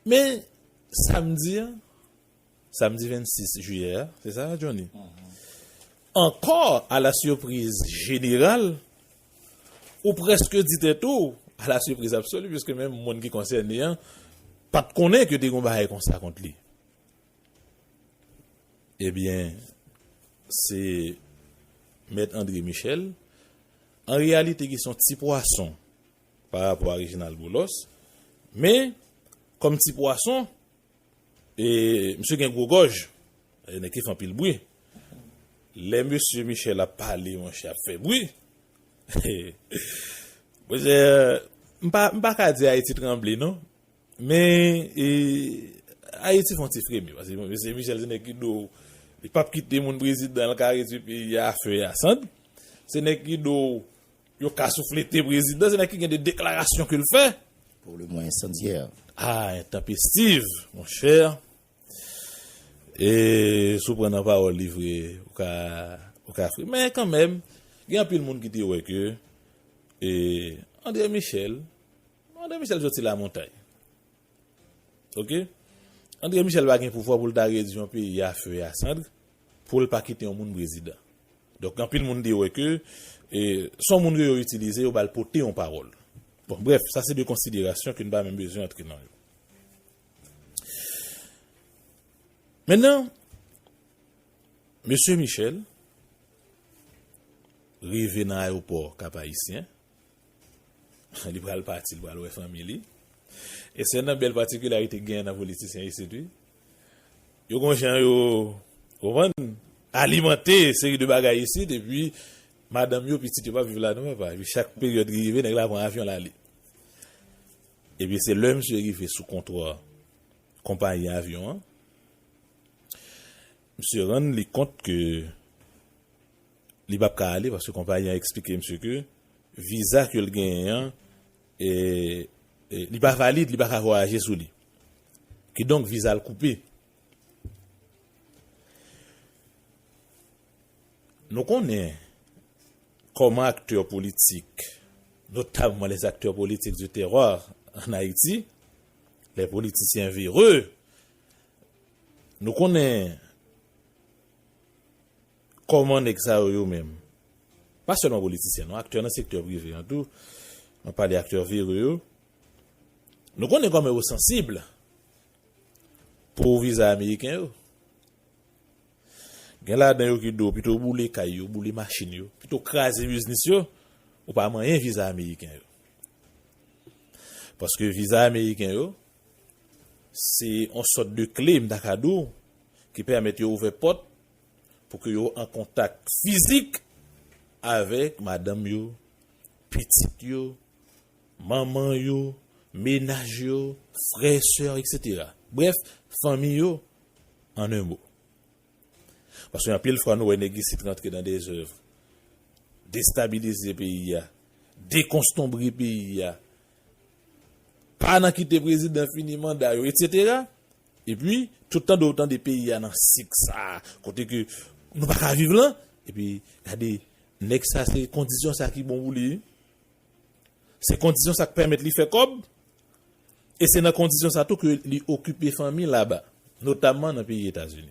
Men, samdi an, samdi 26 jiyè a, se sa Johnny? Ankò, a la sipriz jeneral, ou prèske di tèt ou, a la sipriz absoli, piske menm moun ki konsène an, pa t konnen ke te gen yon bagay konsa kont li. Ebyen, se Mèt André Michel, an reyalite ki son ti pwason, Pa rapò a Reginald Boulos. Men, kòm ti pwason, e misye gen gwo gòj, e nèg ki fè anpil bri. Lè mesye Michel ap pale monchè ap fè bri. Monchè, m pa, m pa ka di Ayiti tranble non. Men, e, Ayiti fè yon ti fremi. Pase mesye Michel se nèg ki do, li pap kite moun prezidan, li ka redui peyi a a fe e a sant. Se nèg ki do. Yo ka souflete prezidan se nan ki gen de deklarasyon ke l fè. Pou le mwen ensandyè. Ah entanpestiv mon chè. E si w pran nan pawòl li vre ou ka ou ka fri. Men kan menm gen anpil moun ki te wè ke e Andre Michel Andre Michel soti lamontay. Ok Andre Michel pa gen pouvwa pou l ta redi yon peyi a feu et a cendre pou l pa kite yon moun prezidan. Donk anpil moun te wè ke se yon moun ke yo itilize, yo ba l pote yon pawòl. Bon brèf, sa se de konsiderasyon ke n pa menm bezwen antre nan yo. Mennan, Mesye Michel rive nan ayewopò Kap Ayisyen. Li pral pati, li pral wè fanmi li. E se nan bèl patikilarite genyen nan politisyen isit wi. Yo gon jan yo, ou konprann, alimante seri de bagay isit epi madanm yo, pitit yo pa viv la non papa. Epi chak peryòd li rive nèg la pran avyon l ale. Epi se lè misye rive sou kontwò konpayi avyon an, misye rann li kont ke Li pap ka ale paske konpayi an eksplike misye ke viza ke l genyen an li pa valid, li pa ka vwayaje sou li. Kidonk viza l koupe. Nou konnen kòman aktè politik, notamman les acteurs politiques du terror en Haïti, les politiciens véreux, nou konnen. Kòman nèg sa yo yo menm? Pa sèlman politisyen non, aktè nan sektè prive an tou, map pale aktè vere yo, nou konnen kòman yo sansib pou viza ameriken yo. Gen ladan yo ki di w pito w boule kay yo, boule machin yo, pito w kraze biznis yo, ou pa manyen viza ameriken yo. Paske viza ameriken yo, se yon sòt de kle m ta ka di w ki pèmèt yo ouvè pòt pou ke yo an kontak fizik avèk madanm yo, pitit yo, manman yo, menaj yo, frè, sè, etc. Brèf, fanmi yo an 1 mo. Paske anpil fwa nou wè nèg isit rantre nan de zèv, destabilize peyi a, dekonstonbre peyi a, pa nan kite prezidan fini manda yo, etc. Epi, tout tande ou tande peyi a nan sik sa a, kote ke nou pa ka viv lan, epi gade, nèg sa se kondisyon sa ki bon pou li wi. Se kondisyon sa k pèmèt li fè kòb, e se nan kondisyon sa tou ke li okipe fanmi laba, notamman nan peyi Etazini.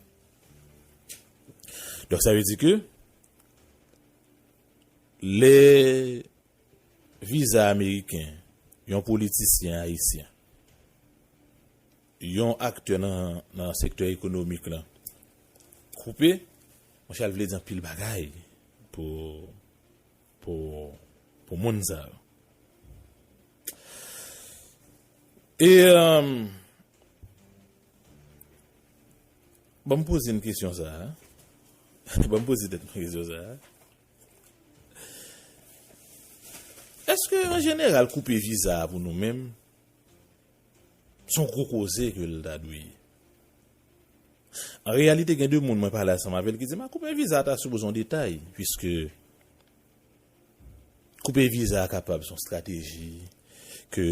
Donk sa vle di ke, lè viza ameriken yon politisyen ayisyen, yon aktè nan sektè ekonomik lan koupe monchè l vle di anpil bagay pou pou pou moun sa yo e ban m poze m kesyon sa a ban m poze tèt m kesyon sa a èske an jeneral koupe viza a pou nou menm Son gro koze ke l ta dwe ye. An reyalite gen 2 moun mwen pale asanm avè l ki di m a koupe viza ta sipoze yon detay puiske koupe viza a kapab son strateji ke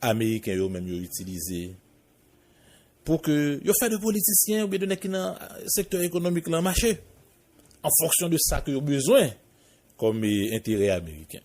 ameriken yo menm yo itilize pou ke yo fè de politisyen oubyen de nèg ki nan sektè ekonomik lan mache an fonksyon de sa ke yo bezwen kòm enterè ameriken.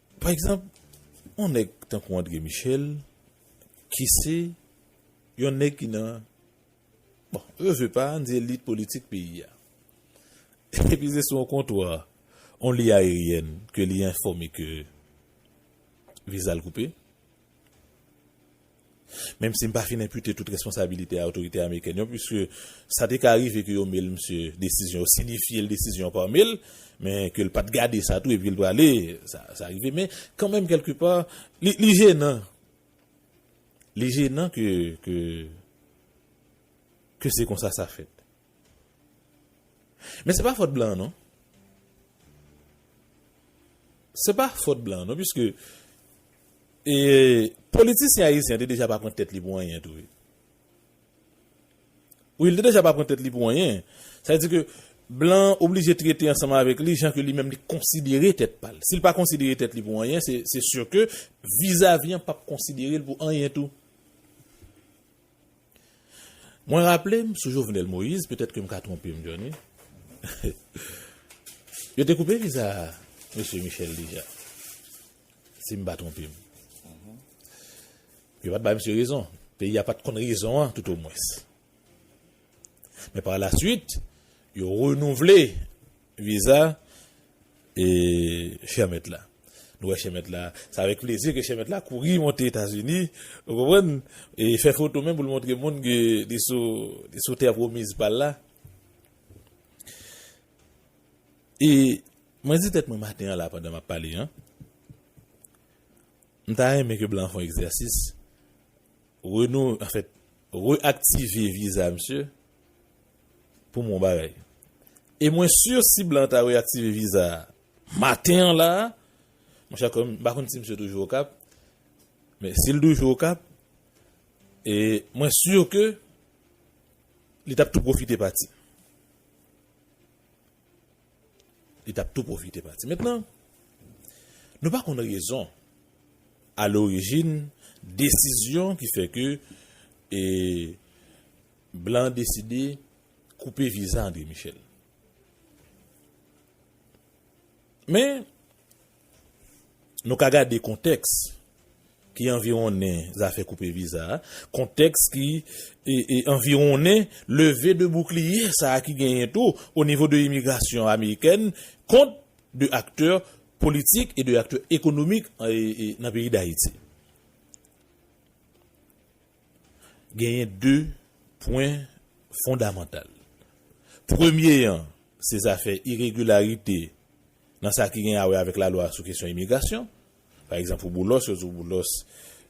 Pa egzanp, yon nèg tankou Andre Michel, ki se yon nèg ki nan, bon, yo se pa, ann di elit politik peyi a. Epi se sou yon kontwa, yon liy ayeryèn ke li enfòme ke viza l koupe. Menm si m pa fin enpute tout responsabilite a otorite amerikèn yo puiske sa te ka rive ke yo mail misye desizyon, yo sinifye l desizyon an par mail, men ke l pa t gade sa tou epi l prale, sa rive men kanmenm kèlke pa li jenan, li jenan ke ke se konsa sa fèt. Men se pa fòt blan an non. Se pa fòt blan an non piske e politisyen ayisyen te deja pa pran tèt li pou anyen tou wi. Wi li te deja pa pran tèt li pou anyen. Sa vle di ke blan an oblije trete ansanm avèk li jan ke li menm li konsidere tèt pa l. Si l pa konsidere tèt li pou anyen se se sur ke vizavi an pap konsidere l pou anyen tou. Mwen raple m sou Jovenel Moïse, petèt ke m ka twonpe m Johnny, yo te koupe viza Mesye Michel deja, si m pa twonpe m. Yo pa t bay misye rezon, peyi a pa t konn rezon an tout o mwens. Men par la swit, yo renouvle. Viza e chè mèt la. Nou wè chè mèt la. Se avèk plezi ke chè mèt la kouri monte Etazini, ou konprann, e fè foto menm pou l montre moun ke li sou tè pwomiz pa l la. E mwen di tèt mwen maten an la pandan m ap pale an, m ta renmen ke blan an fè yon egzèsis, re-aktive viza misye, Pou mwen yon bagay. E mwen sur si blan ta reaktive viza a maten an la a, mon chè kòm m pa konn si misye toujou Okap, men si l toujou Okap, e mwen sur ke li t ap tou pwofite pati. Li t ap tou pwofite pati. Mentnan, nou pa konn rezon a lorijin desizyon ki fè ke e. Blan deside koupe viza Andre Michel. Men, nou ka gade kontèks ki anviwonnen zafè koupe viza a, kontèks ki anviwonnen leve de boukliye sa a ki genyen tou o nivo de imigrasyon amerikèn kont de aktè politik e de aktè ekonomik nan peyi Dayiti. Genyen 2 pwen fondamantal. Premye an, se zafè iregilarite nan sa ki gen a wè avèk lalwa sou kesyon imigrasyon. Pa egzanp pou Boulos, yo di w Boulos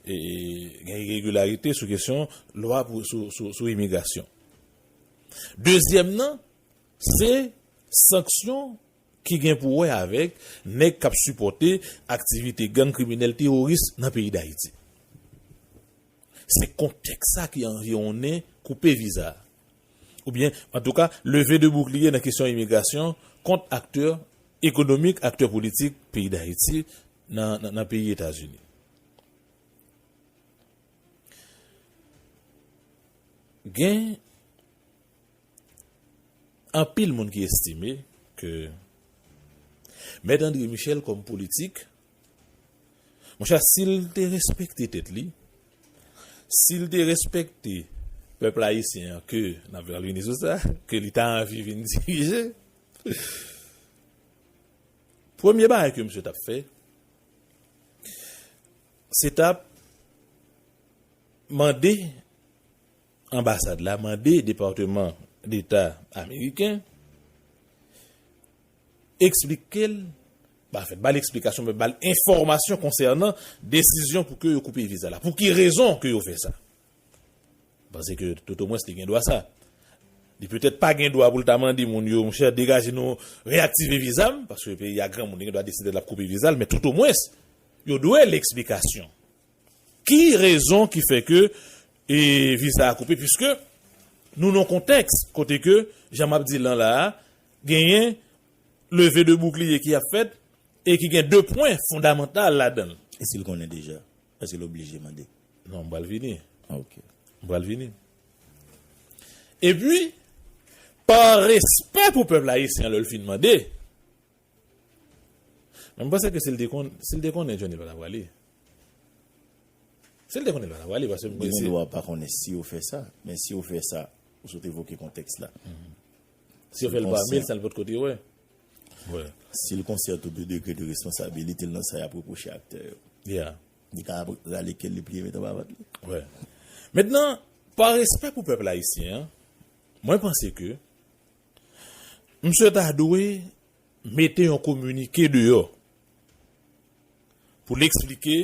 gen iregilarite sou kesyon lwa sou imigrasyon. Dezyèm nan, se sanksyon. ki gen pou wè avèk nèg k ap sipòte aktivite gang kriminèl teworis nan peyi Dayiti. Se kontèks sa ki anviwonnen koupe viza a, oubyen antouka leve de boukliye nan kesyon imigrasyon kont aktè ekonomik, aktè politik peyi Dayiti nan peyi Etazini. Gen. Anpil moun ki estime ke Mèt Andre Michel kòm politik, mon chè si l te respekte tèt li, si l te respekte pèp ayisyen an ke n ap vini sou sa, ke li ta anvi vin dirije, premye bagay ke misye t ap fè, se t ap mande Anbasad la mande Departeman Deta Ameriken eksplike l, pa fè, ba l eksplikasyon men ba l enfòmasyon konsènan desizyon pou ke yo koupe viza la. Pou ki rezon ke yo fè sa? Panse ke tout o mwens li gen dwa sa. Li petèt pa gen dwa pou l ta mande moun yo, mon chè degaje nou, reyaktive viza m, paske peyi a granmoun li gen dwa deside l ap koupe viza l, men tout o mwens yo dwe l eksplikasyon. Ki rezon ki fè ke viza a koupe puiske nou nan yon kontèks kote ke jan map di lan la a genyen leve de boukliye ki ap fèt e ki gen 2 pwen fondamantal ladan l. E si l konnen deja? Eske l oblije mande? Non m pral vini. Ok. M pral vini. E pi pa respè pou pèp ayisyen lè l fin mande, men m panse ke si l te konnen Johnny pa ta prale. Si l te konnen l pa ta pale paske m kwè se. Li gen dwa pa konnen si yo fè sa. Men si yo fè sa, ou sot evoke kontèks la. Si yo fè l pami l sa l pot ko te wè. Si l konsyan tou de degre de responsabilite l nan sa y ap repwoche aktè yo. Ya. Li ka ap rale ke l li pliye met anba vant li. Wè. Mentnan, pa respè pou pèp ayisyen an, mwen panse ke msye ta dwe. mete yon kominike deyò pou l eksplike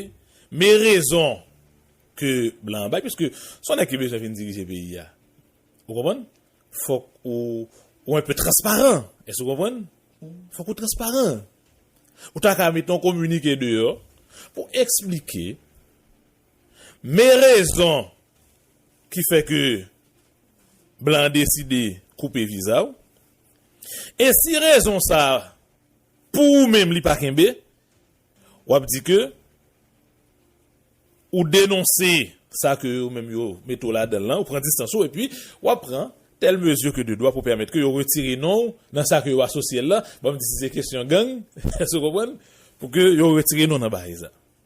me rezon ke blan an bay piske se yon nèg ki bezwen vin dirije peyi a ou konprann fòk ou ou enpe transparan èske ou konprann fòk ou transparan ou ta ka mete yon kominike deyò pou eksplike me rezon ki fè ke blan an deside koupe viza w e si rezon sa pou ou menm li pa kenbe w ap di ke ou denonse sa ke yo menm yo mete w ladan l lan, ou pran distans ou epi w ap pran tèl mezi ke de dwa pou pèmèt ke yo retire non w nan sa ke yo asosye l lan, banm di si se kesyon gang, èske w konprann, pou ke yo retire non w nan bagay sa.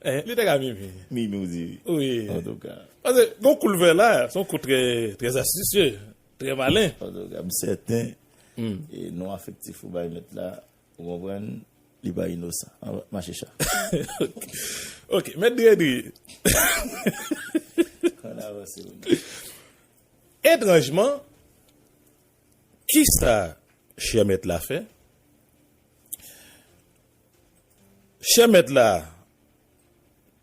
Li te ka mimi. Mimi ou di wi. Wi. Antouka. Pase gon kou l fè la, se yon kou trè trè astisye, trè malen. Antouka m sèten non afektif ou bay mèt la, ou konprann, li pa inosan. An mache cha. Ok. Mèt Dredri. Ann avanse menm. Etranjman, kisa chè mèt la fè? Chè mèt la,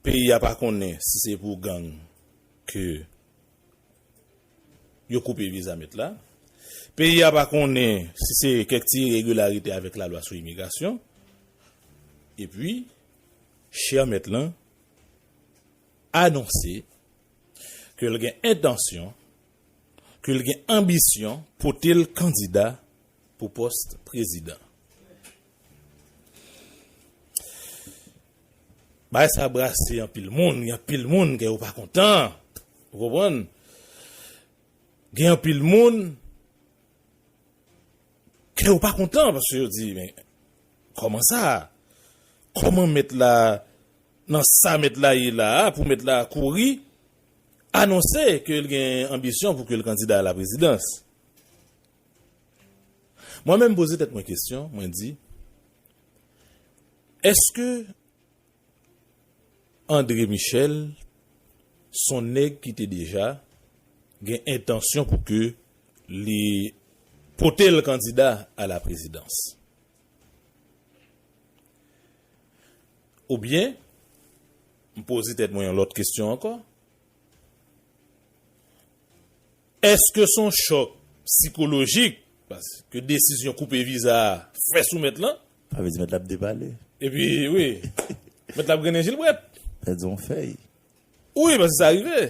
peyi a pa konnen si se pou gang ke yo koupe viza mèt la. Peyi a pa konnen si se kèk ti iregilarite avèk lalwa sou imigrasyon. Epi, chè mèt lan anonse ke l gen entansyon, ke l gen anbisyon pote l kandida pou pòs prezidan. Bagay sa brase anpil moun, gen anpil moun kè yo pa kontan. Ou konprann? Gen anpil moun kè yo pa kontan paske yo di men kòman sa? Kòman mèt la nan sa mèt la ye la a pou mèt la kouri anonse ke l gen anbisyon pou ke l kandida a la prezidans? Mwen menm poze tèt mwen kesyon, mwen di, Eske Andre Michel son nèg ki te deja gen entansyon pou ke li pote l kandida a la prezidans? Oubyen, m poze tèt mwen yon lòt kesyon ankò, Èske s on chòk psikolojik paske desizyon koupe viza a fè sou mèt lan? Sa vle di mèt la ap depale. Epi wi, mèt la ap grennen jilbrèt. Pèdi on fèy. Wi, paske sa rive.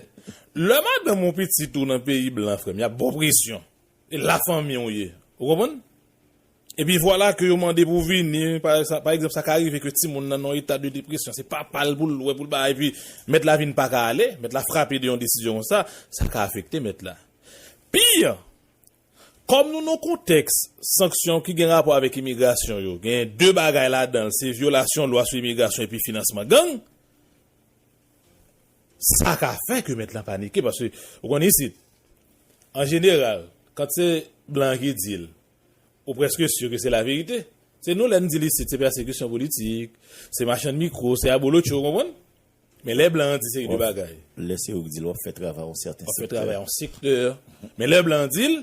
Lè madanm ou pitit ou nan peyi blan frè m, y ap ba w presyon. E lafanmi w ye. Ou konprann? Epi vwala ke yo mande pou vini, pa egzanp sa ka rive ke timoun nan nan yon eta de depresyon, se papa l pou l wè, pou l bay, epi mèt la vin pa ka ale, mèt la frape de yon desizyon konsa, sa ka afekte mèt la. Pi an, kòm nou nan yon kontèks sanksyon ki gen rapò avèk imigrasyon yo, genyen 2 bagay ladan l, se vyolasyon lwa sou imigrasyon epi finansman gang, sa ka fè ke mèt la panike, paske ou konnen isit, an jeneral, kant se blan an ki di l, Ou preske sur ke se la verite. Se nou lè n di l isit se pèsekisyon politik, se machann mikro, se abolotcho, ou konprann? Men lè blan an di seri de bagay. Lè se ou k di l w ap fè travay yon sèten sektè. W ap fè travay yon sektè. Men lè blan an di l,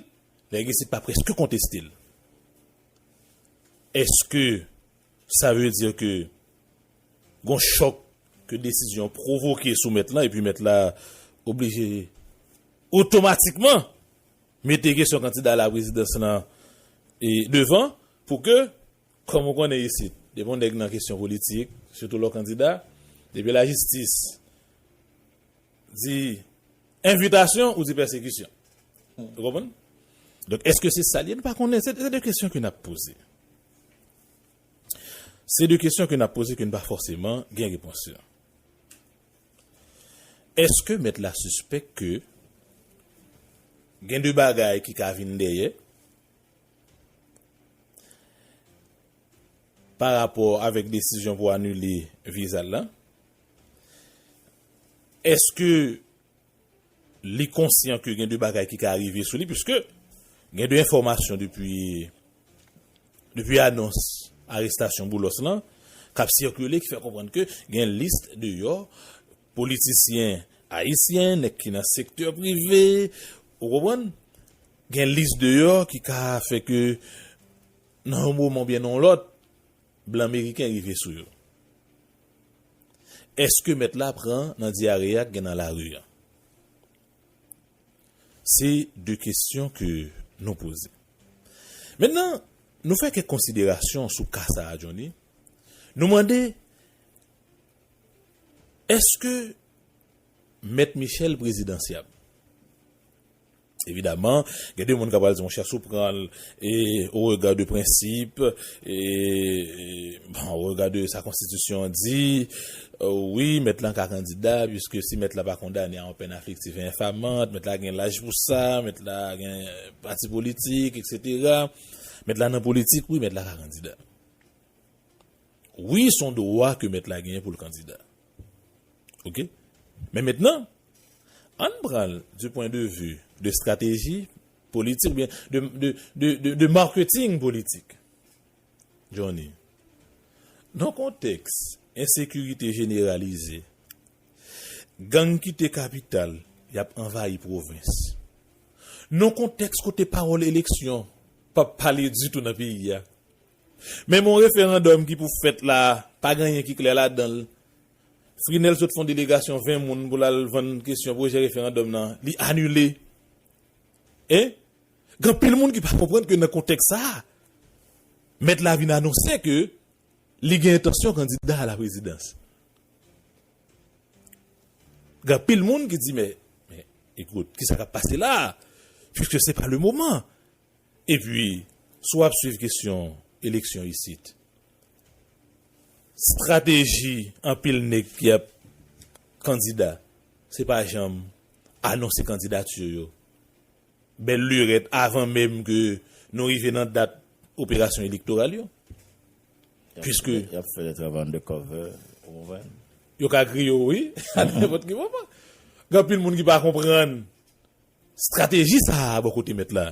nèg isit pa preske konteste l. Eske sa vle di ke gon chòk ke desizyon an pwovoke sou mèt lan epi mèt la oblije otomatikman. Mete kesyon kandida laprezidans lan devan pou ke, kòm ou konnen isit, depi yon nèg nan kesyon politik, sitou lè w kandida, depi lajistis di envitasyon, ou di pèsekisyon. Ou konprann? Donk, èske se sa l ye? Nou pa konnen. Se de kesyon ke n ap poze. Se de kesyon ke n ap poze ke n pa fòseman gen repons yo. Èske mèt la sispèk ke gen de bagay ki ka vin dèyè pa rapò avèk desizyon pou anile viza l lan? Èske. Li konsyan ke gen de bagay ki ka rive sou li puiske gen de enfòmasyon depi depi anons arestasyon Boulos lan k ap sikile ki fè konprann ke gen lis deyò politisyen ayisyen, nèg ki nan sektè prive, ou konprann, gen lis deyò ki ka fè ke nan yon moman oubyen nan yon lòt blan meriken rive sou yo. Eske mèt la pran nan dyare a k gen nan lari an? Se de kesyon ke nou poze. Mennan, nou fè kèk konsiderasyon sou ka sa a Johnny. Nou mande, Eske Mèt Michel prezidansyab? Evidaman, gen de moun ka pral di monchè si w pran l au regard de principe, au regard de sa konstitisyon an di, wi mèt lan ka kandida puiske si mèt la pa kondane a yon pèn afliktif e enfamant, mèt la gen laj pou sa, mèt la gen pati politik, eksetera. Mèt la nan politik, wi mèt la ka kandida. Wi son dwa ke mèt la genyen pou l kandida. Ok men mentnan ann pran l di pwen de vi de estrateji politik oubyen de marketing politik Johnny nan kontèks ensekirite jeneralize gang kite kapital y ap anvayi pwovens nan kontèks kote pawòl eleksyon p ap pale ditou nan peyi a. Menm yon referandòm ki pou fèt la a, pa gen anyen ki klè ladan l. Frinel sot fè yon delegasyon 20 moun pou l al vann kesyon pwojè referandòm nan, li anile. E, gen anpil moun ki pa konprann ke nan kontèks sa a, mèt la vin anonse ke li gen entansyon kandida a la prezidans. Gen anpil moun ki di men, men, ekout, kisa k ap pase la a? Piske se pa le moman. Epi, si w ap swiv kesyon eleksyon isit, strateji anpil nèg ki ap kandida, se pa janm anonse kandidati yo. Bèl lirèt avan menm ke nou rive nan dat operasyon elektoral yo. Piske. Y ap fè lèt av undercover, ou konprann? Yo ka griye w wi, a nenpòt ki moman. Gen anpil moun ki pa konprann Strateji sa a bò kote mèt la.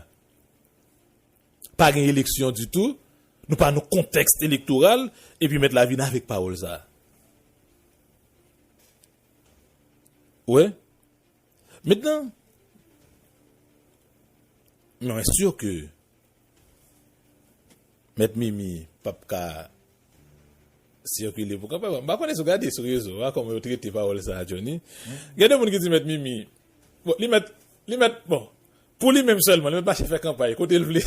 Pa gen eleksyon ditou, nou pa nan kontèks elektoral, epi mèt la vin avèk pawòl sa a. Ou wè? Mentnan, mwen sure ke Mèt mimi pap ka sikile pou kanpay m pa konnen si w gade sou rezo a kòman yo trete pawòl sa a Johnny gen de moun ki di mèt mimi bon li mèt li mèt bon pou li menm sèlman li mèt mache fè kanpay kote l vle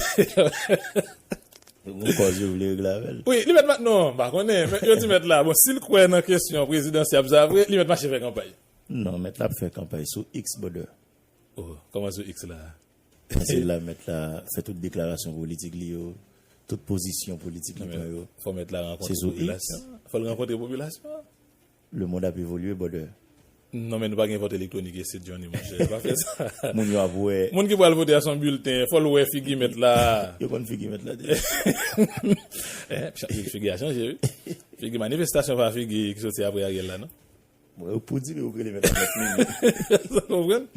yo gon kòz yo vle regle avè l wi li mèt ma non m pa konnen men yo di mèt la bon si l kwè nan kesyon prezidansyab sa vre li mèt mache fè kanpay non mèt la ap fè kanpay sou iks bodè oh kòman sou iks la. Pase la mèt la fè tout deklarasyon politik li yo, tout pozisyon politik li pran yo. Fò mèt la rankontre popilasyon an. Fò l rankontre popilasyon an. Le mond ap evolye brother. Non men nou pa gen vòt elektwonik ese Johnny monchè. Pa fè sa. Moun yo ap wè. Moun ki pral vote a son bilten. Fò l wè figi mèt la. Yo konn figi mèt la deja. Figi a chanje wi. Figi manifestasyon pa figi ki soti apre Ariel la non. Mwen yo poudi li yo rele mèt la mèt mimi. Sa konprann?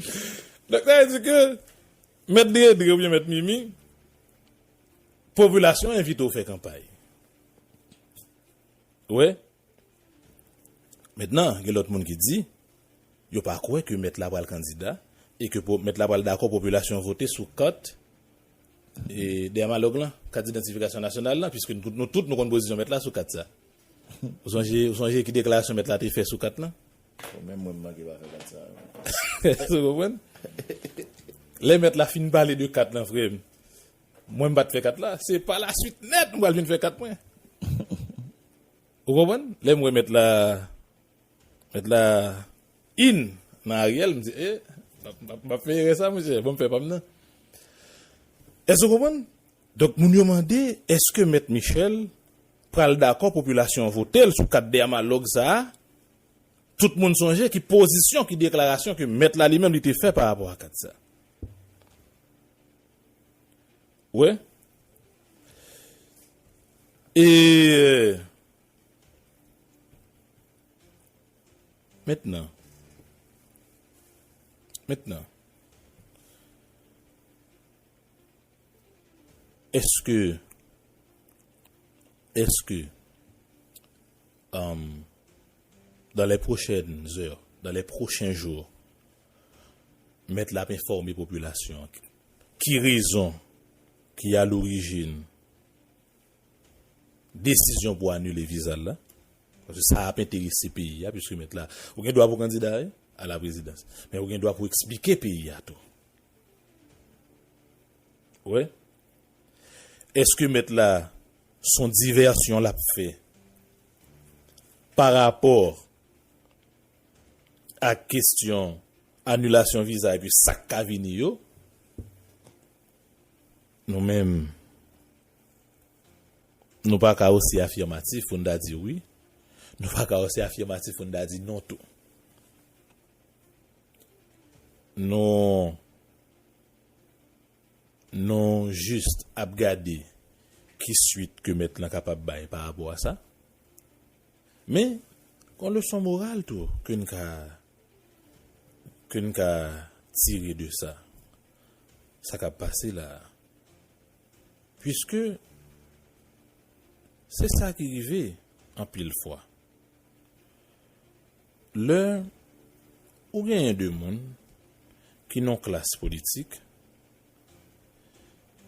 Donk sa vle di ke mèt dredre oubyen mèt mimi popilasyon envite w fè kanpay. Ou wè? Mentnan gen lòt moun ki di yo pa kwè ke mèt la pral kandida e ke mèt la pral dakò popilasyon vote sou kat Dermalog lan, kat idantifikasyon nasyonal lan, piske nou tout nou konn pozisyon mèt la sou kat sa. Ou sonje, ou sonje ki deklarasyon mèt la te fè sou kat lan? Bon, menm mwen m manke pa fè kat sa a menm. Ou konprann? Lè mèt la fin pale de kat lan frè m, mwen m pa t fè kat la, se pa la suit nèt m pral vin fè kat mwen. Ou konprann? Lè m wè mèt la, mèt la in nan Ariel, m di, e, m ap fè erè sa a monchè, bon m fè pa m nan. Èske ou konprann? Donk moun yo mande eske mèt Michel pral dakò popilasyon an vote l sou kat dèmalòg sa a, tout moun sonje ki pozisyon, ki deklarasyon ke mèt la li menm li te fè pa rapò a kat sa. Ou wè? E Mentnan, mentnan. Eske Eske Umm Dan lè pwochèn zè Dan lè pwochen jou Mèt la ap enfòme popilasyon an Ki rezon Ki a lorijin Desizyon pou anile viza l la Paske sa ap enterese peyi a Piske mèt la Ou gen dwa pou kandida wi A la prezidans Men ou gen dwa pou eksplike peyi a tou Wè? Eske mèt la son divèsyon lap fè pa rapò ak kestyon anilasyon viza epi sak ka vini yo? Nou menm nou pa ka osi afimatif pou n ta di wi, nou pa ka osi afimatif pou n ta di non tou. Nou Nou jis ap gade ki swit ke mèt lan kapab bay pa rapò a sa. Men, gon leson moral tou ke n ka ke n ka tire de sa, sa k ap pase la a. Piske se sa ki rive anpil fwa. Lè ou genyen 2 moun ki nan klas politik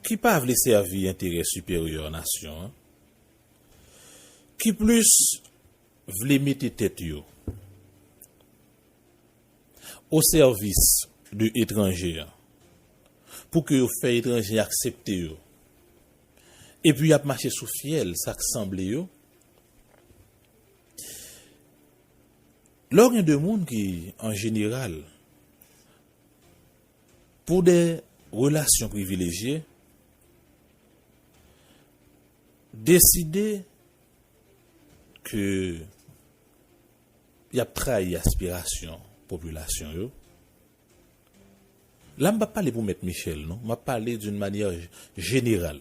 ki pa vle sèvi enterè siperyè nasyon an, ki plis vle mete tèt yo o sèvis de etranje an pou ke yo fè etranje aksepte yo, epi y ap mache sou fyèl sa k sanble yo, Lè w gen 2 moun ki an jeneral pou de relasyon privilejye deside ke y ap trayi aspirasyon popilasyon yo, la m pa pale pou mèt Michel non, m ap pale d'une manière générale.